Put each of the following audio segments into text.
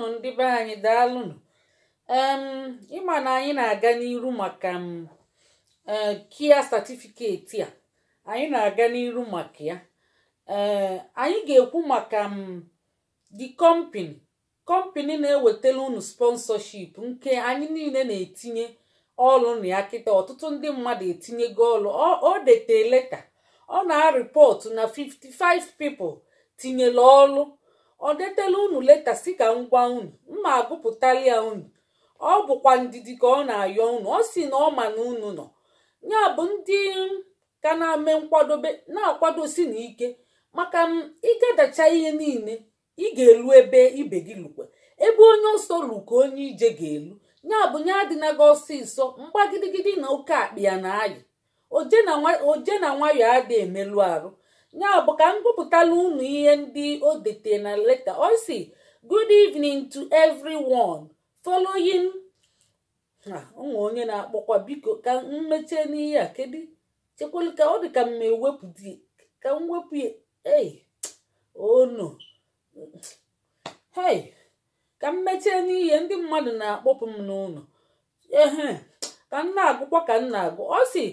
ụnụ ndị be anyị daalụnụ em ịma na anyị na-aga n'iru maka m ee kia satifiketi a anyị na-aga n'iru maka ya ee anyị ga-ekwu maka m di kọmpini kọmpini na-ewetara unu sponsorship nke anyị niile na-etinye ọlụ na ya kịta ọtụtụ ndị mmadụ etinyego ọlụ o dete leta ọ na-arịpọtụ na 55 people tinyere ọlụ ọ detela unu leta sị ka m gwa unu m ma-agụpụtalị ya unu ọ bụkwa ndidi ka ọ na-ayọ unu ọ sị na ọ ma na unu nọ ya bụ ndị ka na-eme nkwadobe na-akwadosi na ike maka m ịgadacha ihe niile i ga-elu ebe ibe gị lukwe ebe onye ọsọ lu ka onye ije ga-elu ya bụ nya adịna gị ọsịsọ mgbagidigidi na oke akpị ya na ayị oje na nwa- oje na nwayọ adị emelụ arụ ya bụ ka m gụpụtala unu ihe ndị o dete na leta ọ sị good evening to everyone following Ah, o nwee onye na-akpọkwa biko ka m mechie n'ihe a kedu chekwelu ka ọ dị ka m ma-ewepụ di ka m wepụ ya ei oh no hei ka m mechie n'ihe ndị mmadụ na-akpọpụ m n'ụnọ ehe ka m na-agụkwa ka m na-agụ ọ sị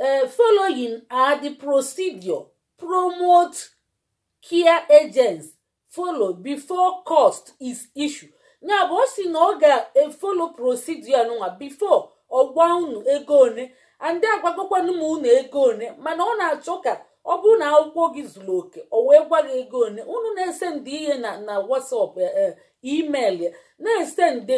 eh, following are the procedure promote care agents follow before cost is issue ya bụ ọ sị na ọ ga-efolo procedure nụnwa before ọ gwa unu ego one and agwagokwanụ m unu ego one mana ọ na-achọ ka ọ bụrụ na akwụkwọ gị zuru oke o wee gwa gị ego one unu na-esendị ihe na na WhatsApp eh, eh, email ya na-esendị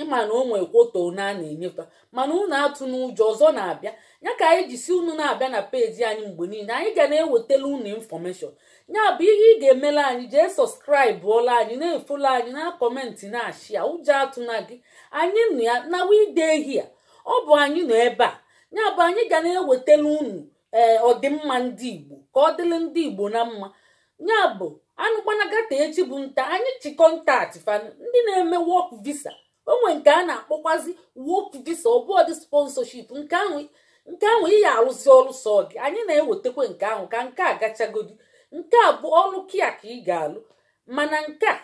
ịma na o nwee kwota na a na-enye fa mana unu atụna ụjọ ọzọ na-abịa ya ka anyị ji sị unu na-abịa na peji anyị mgbe niile anyị ga na-ewetala unu infọmeshọn ya bụ ihe ị ga-emela anyị jee sọskraịbụọla anyị na-efolo anyị na-akọmentị na-ashia ụjọ atụna gị anyị nọ ya na we dey here ọ bụ anyị nọ ebe a ya bụ anyị ga na-ewetala unu ee ọdịmma ndị igbo ka ọ dịrị ndị igbo na mma ya bụ anụ gbanaa gị taa echi bụ nta anyị ji kọntaktị fa ndị na-eme wọk visa o nwe nke a na-akpọkwazi wọk visa ọ bụọ di sponsorship nke ahụ nke ahụ ị ya-arụzi ọrụ sọ gị anyị na-ewetakwa nke ahụ ka nke a gachagodi nke a bụ ọlụ kia ka ị ga-alụ mana nke a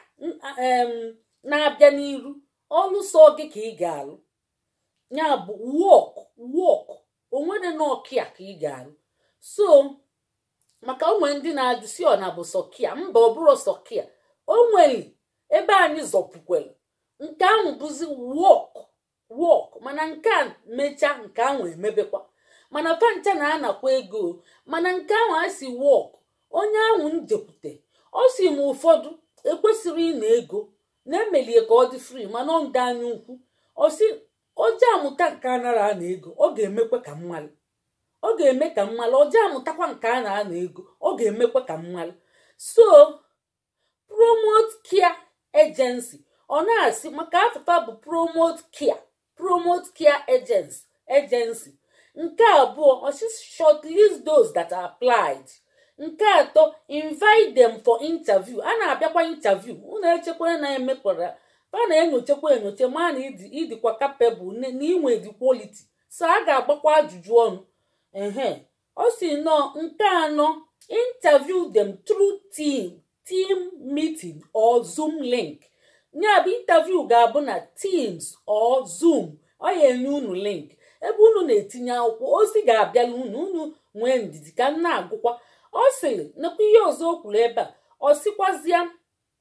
na-abịa n'iru ọrụ sọ gị ka ị ga-alụ ya bụ wọk wọk o nwere na ọ care ka ị ga-arụ so maka o nwe ndị na-ajụ si ọ na bụ sọ care mba ọ bụrọ sọ care o nwere ebe anyị zọpụkwere nke ahụ bụzi work work mana nke a mechaa nke ahụ emebekwa mana fa ncha na-anakwa ego mana nke ahụ a si work onye ahụ m jekwute ọ si m ụfọdụ ekwesịrị ịna ego na-emelie ka ọ dị free mana ọ ndị anya ukwu ọ si o je amụta nke a nara ana ego ọ ga-emekwa ka m malụ ọ ga-eme ka m malụ o je amụtakwa nke a na-ana ego ọ ga-emekwa ka m malụ so promote care agency ọ na-asị maka afa fa bụ promote care promote care agency agency nke abụọ ọ sị shortlist those that applied nke atọ invite them for interview a na-abịakwa interview unu echekwara na emekwara fa na-enyochakwa enyocha ma na ị dịkwa capable na i nwe the quality so a ga-agbakwa ajụjụ ọnụ ehe ọ si nọ nke anọ interview them through team team meeting or zoom link ya bụ interview ga-abụ na teams or zoom ọ ya-enye unu link ebe unu na-etinye akwụkwọ ozi ga-abịalụ unu unu nwee ndidi ka m na-agụkwa ọ sịrị nakwa ihe ọzọ o kwuru ebe a ọ sịkwazịa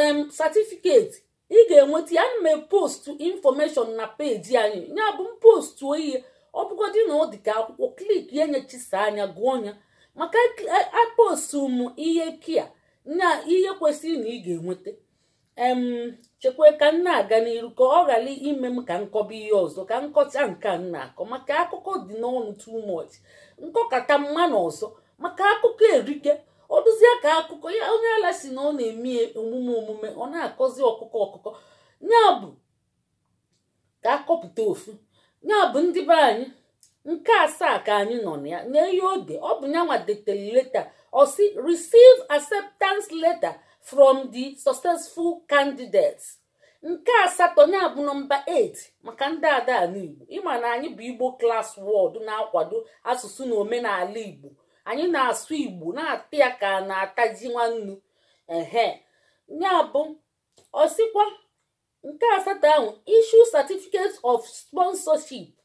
em certificate ị ga-enweta ya ana m postu information na peji anyị ya bụ m postu ihe ọ bụgodị na ọ dị ka akwụkwọ click ya nyechisa anya gụọ ya maka apostu e, e, m ihe care na ihe kwesịrị na ị ga-enweta em chekwa ka m na-aga n'iru ka ọ ghara ime m ka m kọba ihe ọzọ ka m kọcha nke m na-akọ maka akụkọ dị n'ọnụ too much m kọkata m maa na ọzọ maka akụkọ erike ọ dụzie ka akụkọ ya onye ala si na ọ na-eme omume omume ọ na-akọzi ọkụkọ ọkụkọ ya bụ ka a kọpụta ofu ya bụ ndị be anyị nke asaa ka anyị nọ na ya n'ihe o de ọ bụ nyanwa detere leta ọ si receive acceptance letter from the successful candidates nke asatọ ya bụ nọmba 8 maka ndị ada anụ igbo ị ma na anyị bụ igbo class world na-akwado asụsụ na omenala igbo anyị na-asụ igbo na-ata ya ka a na-ata ji nwannu ehe ya bụ ọ sịkwa nke asatọ ahụ issue certificate of sponsorship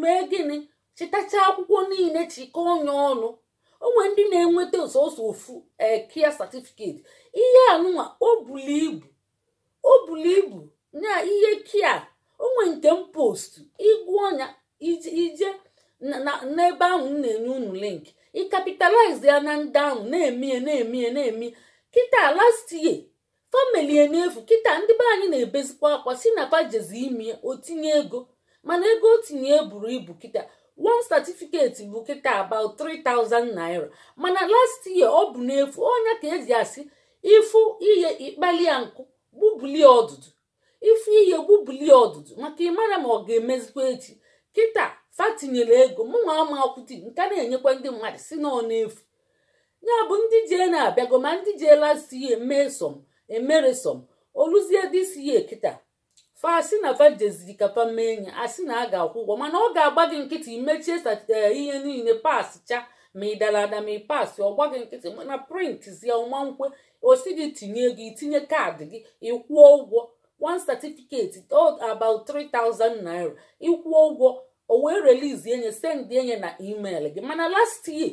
mee gịnị chịtacha akwụkwọ niile chịkọọ nya ọnụ o nwe ndị na-enweta sọsọ ofu care certificate ihe anụnwa o bulu ibu o bulu ibu na ihe care o nwe nke m postu ị gụọ nya i jee n'ebe ahụ m na-enye unu link ị capitalize ya na ndị ahụ na-emie na-emie na-emie kịta last year fa melie n'efu kịta ndị be anyị na-ebezikwa akwa sị na fa jezi ime o tinye ego mana ego o tinye eburo ibu kịta one certificate bụ kịta about 3000 naira mana last year ọ bụ n'efu ọ nya ka e ji asị ị fụ ihe ị kpalị ya nkụ gbubulie ọdụdụ ị fụ ihe gbubulie ọdụdụ maka ị mara ma ọ ga-emezikwa echi kịta fa tinyere ego mụnwa ama akwụti nke na-enyekwa ndị mmadụ sị na ọ n'efu ya bụ ndị jee na-abịago ma ndị jee last year mee some emero some o luzie this year kịta fa asị na fa jeziri ka fa mee nye a sị na a ga-akwụ ụgwọ mana ọ ga-agba gị nkịtị i mechie ihe niile pasịcha ma ị dara ada ma ị pasị ọ gba gị nkịtị mana print zie ya ọ ma nkwe ọ sị gị tinye ego i tinye card gị ị kwụọ ụgwọ one certificate about 3000 naira ị kwụọ ụgwọ o wee release nye send nye na email gị mana last year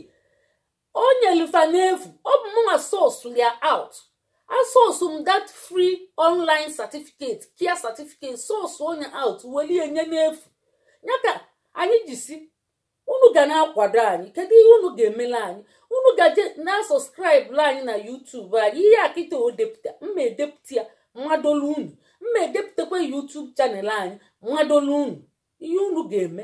o nyelu fa n'efu ọ bụ mụnwa source ya out a source m that free online certificate care certificate source nye out welie nye n'efu nya ka anyị ji sị unu ga na-akwado anyị kedu ihe unu ga-emele anyị unu gaje na-asubscribela anyị na YouTube anyị ihe a kịta o depụta m ma edepụta ya m madolu unu m ma edepụtakwa YouTube channel anyị m madolu unu ihe unu ga-eme